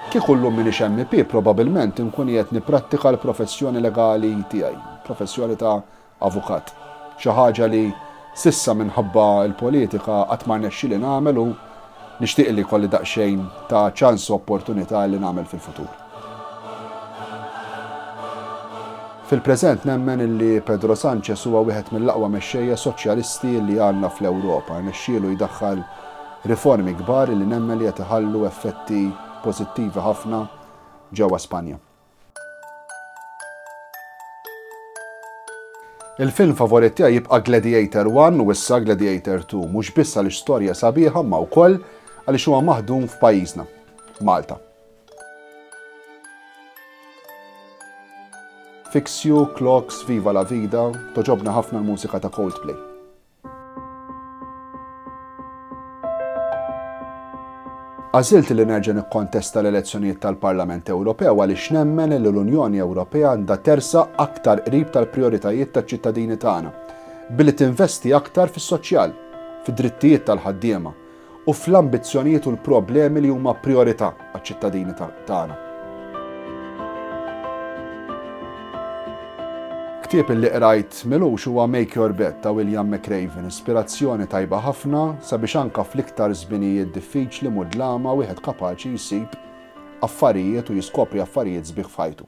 Kieku llum m'iniex MP probabilment inkun qiegħed nipprattika l-professjoni legali tiegħi, professjoni ta' avukat. Xi ħaġa li s'issa minħabba l-politika qatt ma rnexxieli nagħmel u Nixtieq illi jkolli daqsxejn ta' ċans u opportunità illi nagħmel fil-futur. Fil-preżent nemmen illi Pedro Sanchez huwa wieħed mill-aqwa mexxejja soċjalisti illi għandna fl-Ewropa. Rnexxielu jdaħħal riformi kbar illi nemmen li qed iħallu effetti pożittivi ħafna ġewwa Spanja. Il-film favorit tiegħi jibqa' Gladiator 1 u issa Gladiator 2, mhux biss għaliex storja sabiħa ma wkoll għaliex huwa maħdum f'pajjiżna, Malta. Fix You, Clocks, Viva la Vida, toġobna ħafna l-mużika ta' Coldplay. Għażilt li nerġa' nikkontesta l-elezzjonijiet tal-Parlament Ewropew għaliex nemmen li l-Unjoni Ewropea għandha tersaq aktar qrib tal-prijoritajiet taċ-ċittadini tagħna, billi tinvesti aktar fis-soċjal, fid-drittijiet tal-ħaddiema, u fl-ambizzjonijiet u l-problemi li huma prijorità għaċ-ċittadini tagħna. Ktieb li qrajt milux huwa Make Your Bed ta' William McRaven, ispirazzjoni tajba ħafna sabiex anka fl-iktar żminijiet diffiċli mudlama wieħed kapaċi jsib affarijiet u jiskopri affarijiet sbieħ f'ħajtu.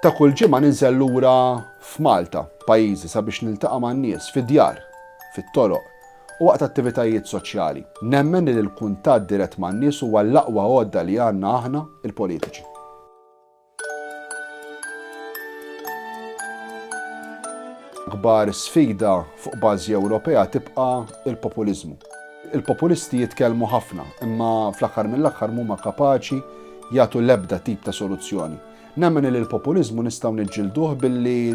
Ta' kull ġimgħa ninżel lura f'Malta, pajjiżi sabiex niltaqa' man-nies fid-djar, fit-toroq, u waqt attivitajiet soċjali. Nemmen li l-kuntatt dirett man-nies huwa l-aqwa għodda li għandna aħna, il-politiċi. L-akbar sfida fuq bażi Ewropea tibqa' l-populiżmu. Il-populisti jitkellmu ħafna, imma fl-aħħar mill-aħħar mhuma kapaċi jagħtu l-ebda tip ta' soluzzjoni. Nemmen li l-populiżmu nistgħu niġġilduh billi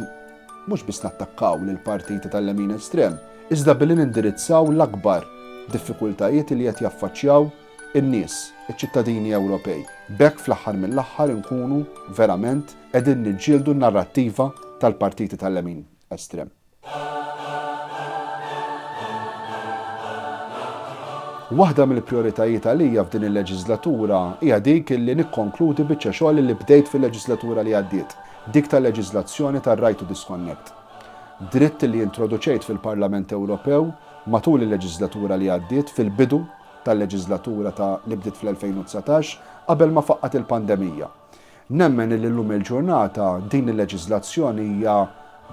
mhux biss nattakkaw lill-partiti tal-lemin estrem, iżda billi nindirizzaw l-akbar diffikultajiet li qed jaffaċċjaw in-nies, iċ-ċittadini Ewropej. B'hekk fl-aħħar mill-aħħar inkunu verament qegħdin niġġieldu n-narrattiva tal-partiti tal-lemin estrem. Waħda mill-prijoritajiet għalija f'din il-leġiżlatura hija dik li nikkonkludi biċċa xogħol li bdejt fil-leġiżlatura li għaddiet, dik tal-leġiżlazzjoni tar-Right to Disconnect. Dritt li introduċejt fil-Parlament Ewropew matul il-leġiżlatura li għaddiet fil-bidu tal-leġiżlatura ta' li bdiet fl-2019, qabel ma faqqgħet il-pandemija. Nemmen illi llum il-ġurnata din il-leġiżlazzjoni hija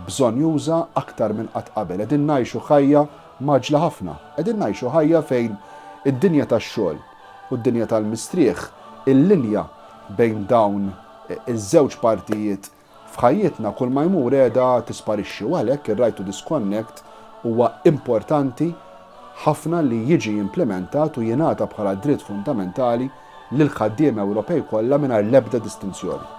bżonnjuża aktar minn qatt qabel. Qegħdin ngħixu ħajja mgħaġġla ħafna. Qegħdin ngħixu ħajja fejn id-dinja tax-xogħol u d-dinja tal-mistrieħ, il-linja bejn dawn iż-żewġ partijiet F'ħajjitna kull ma jmur qiegħda tisparixxi u għalhekk ir-Right to Disconnect huwa importanti ħafna li jiġi implimentat u jingħata bħala dritt fundamentali lill-ħaddiema Ewropej kollha mingħajr l-ebda distinzjoni.